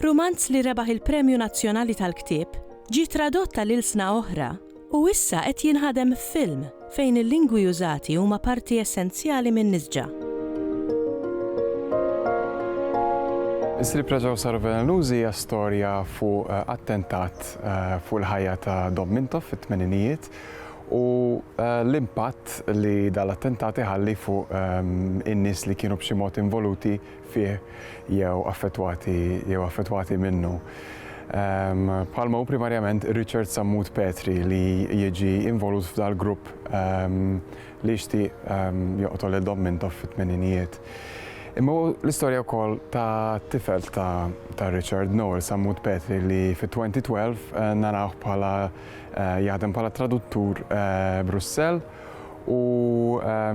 Rumanz li rebaħ il-Premju Nazzjonali tal-Ktieb, ġie tradott għal ilsna oħra u issa qed jinħadem f'film fejn il-lingwi użati huma parti essenzjali min-nisġa. Is-Sriep Reġgħu Saru Velenużi hija storja fuq attentat fuq il-ħajja ta' Dom Mintoff fit-tmeninijiet u l-impatt li dal-attentat iħalli fuq in-nies li kienu b'xi mod involuti fih jew affettwati jew affettwati minnu, bħalma hu primarjament Richard Sammut Petri li jiġi involut f'dal-grupp li jixtieq joqtol lil Dom Mintoff fit-tmeninijiet. Imma hu l-istorja wkoll ta' tifel ta' Richard, Noel Sammut Petri li fit-2012 narawh bħala jaħdem bħala traduttur Brussell u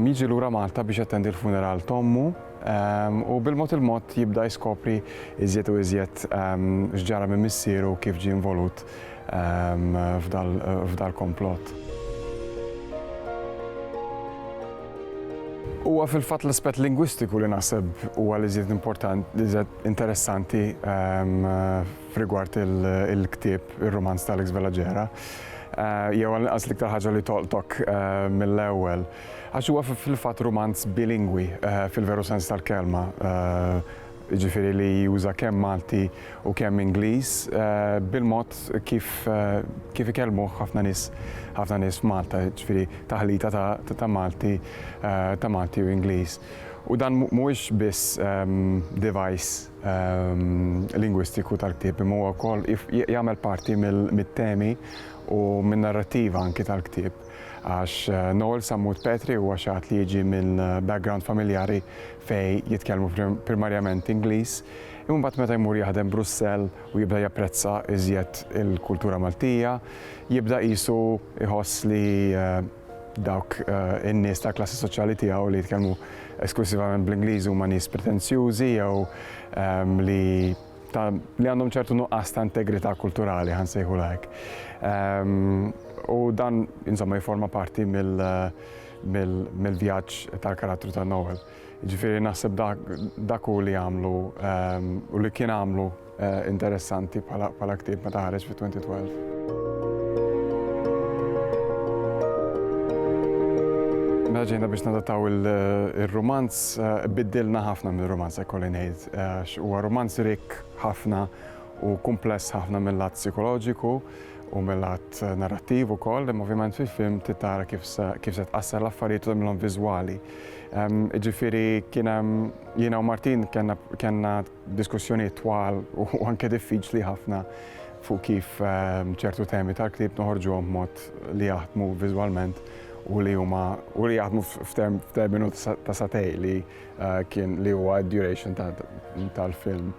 jiġi lura Malta biex jattendi l-funeral t'ommu, u bil-mod il-mod jibda jiskopri iżjed u iżjed x'ġara minn missieru kif ġie involut f'dal-komplott. Huwa fil-fatt l-aspett lingwistiku li naħseb huwa l-iżjed importanti, l-iżjed interessanti f'rigward il-ktieb, ir-rumanz ta' Alex Vela Gera, jew għall-inqas l-iktar ħaġa li tolqtok mill-ewwel. Għax huwa fil-fatt rumanz bilingwi fil-veru sens tal-kelma, jiġifieri li juża kemm Malti u kemm Ingliż bil-mod kif kif ikellmuh ħafna nies ħafna nies f'Malta, jiġifieri taħlita ta' ta' Malti ta' Malti u Ingliż. U dan mhuwiex biss device lingwistiku tal-ktieb imma huwa wkoll jagħmel parti mit-temi u min-narrattiva anki tal-ktieb. għax Noel Sammut Petri huwa xi ħadd li jiġi minn background familjari fejn jitkellmu primarjament Ingliż, imma mbagħad meta jmur jaħdem Brussell u jibda japprezza iżjed il-kultura Maltija, jibda qisu jħoss li dawk in-nies tal-klassi soċjali tiegħu li jitkellmu esklussivament bl-Ingliż huma nies pretenzjużi jew li ta' li għandhom ċertu nuqqas ta' integrità kulturali, għan sejħu lajk. Ehm, u dan, insomma, jiforma parti mill-vjaġġ tal-karattru ta' Noel. Ġifiri, naħseb dak u li għamlu ehm, u li kien għamlu eh, interessanti pala ktib meta ħareġ fi 2012. Mela ġejna biex nadataw il-romanz, eh, biddilna ħafna mill-romanz, ekkolli ngħid. għax huwa rumanz rikk ħafna u kumpless ħafna mill-lat psikoloġiku u mill-lat narrattiv ukoll, imma ovvjament fil-film titara kif se tqassar l-affarijiet u tagħmilhom viżwali. Ehm, ġifieri kien hemm jiena u Martin kellna diskussjonijiet twal u anke diffiċli ħafna fuq kif ehm, ċertu temi tal-klib noħorġuhom mod li jaħdmu viżwalment u li huma u li jaħdmu f'terminu ta' satej li eh, kien li huwa d-duration tal-film.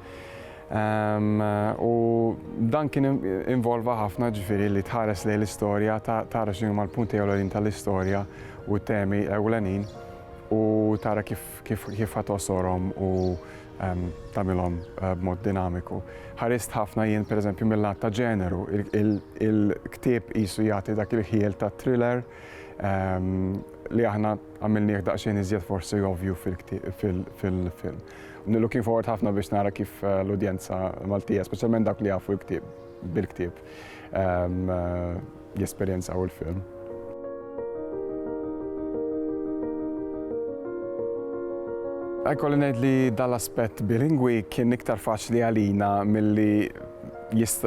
Ehm, u dan kien involva ħafna ġifiri li tħares lej l-istorja, tara xinu ma l-punti ewlenin tal-istorja u temi ewlenin u tara kif ħatosorom u ehm, tamilom eh, b'mod dinamiku. Ħarist ħafna jien per eżempju mill-lat ta' ġeneru, il-ktib jisu jagħti dak il-ħiel ta' thriller, li aħna għamilnieh daqsxejn iżjed forsi ovvju fil-film. Looking forward ħafna biex nara kif l-udjenza Maltija, speċjalment dawk li jafu l-ktieb bil-ktieb, jesperjenzaw il-film. Ikolli ngħid li dal-aspett bilingwi kien iktar faċli għalina milli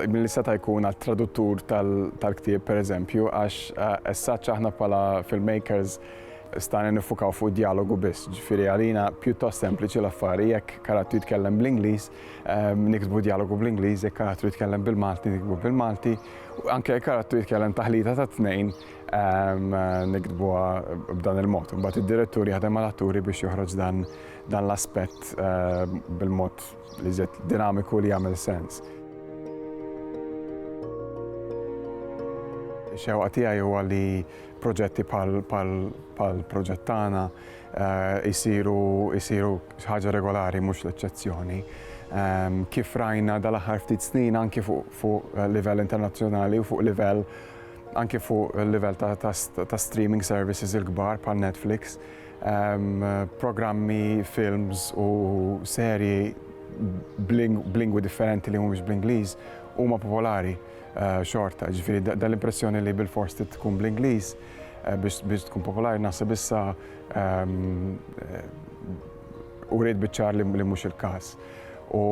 milli seta' jkun għat-traduttur tal-ktieb pereżempju għax essaċ aħna bħala filmmakers stajna niffukaw fuq id-djalogu biss, ġifieri għalina pjuttost sempliċi l-affari jekk karattru jitkellem bl-Ingliż niktbu djalogu bl-Ingliż, jekk karattru jitkellem bil-Malti niktbu bil-Malti, anke jekk karattru jitkellem taħlita tat-tnejn niktbuha b'dan il-mod. Imbagħad id-direttur jaħdem mal-atturi biex joħroġ dan l-aspett bil-mod Li żied dinamiku u li jagħmel sens. Ix-xewqa tiegħi huwa li proġetti bħall-proġett tagħna jsiru xi ħaġa regolari mhux l-eċċezzjoni. Kif rajna dal-aħħar ftit snin anki fuq livell internazzjonali u fuq livell anki fuq livell ta' streaming services il-kbar bħal Netflix, programmi, films u serji b'lingwi differenti li mhumiex bl-Ingliż huma popolari eh, xorta. Ġifieri dal-impressjoni li bil-fors tkun bl-Ingliż eh, biex tkun popolari naħseb issa ehm, eh, u rrid biċċar li mhux il-każ. U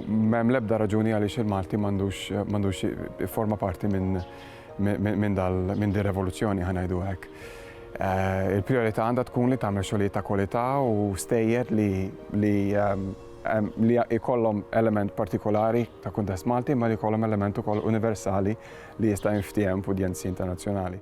m'hemm l-ebda raġuni għaliex il-Malti m'għandux forma parti minn minn din ir-revoluzzjoni ħa ngħidu hekk. Eh, il-priorità għandha tkun li tagħmel xogħlijiet ta' kwalità u stejjer li li ehm, ehm, li jkollhom element partikolari ta' kuntest Malti ma li jkollhom element ukoll universali li jista' jinftiehem f'udjenzi internazzjonali.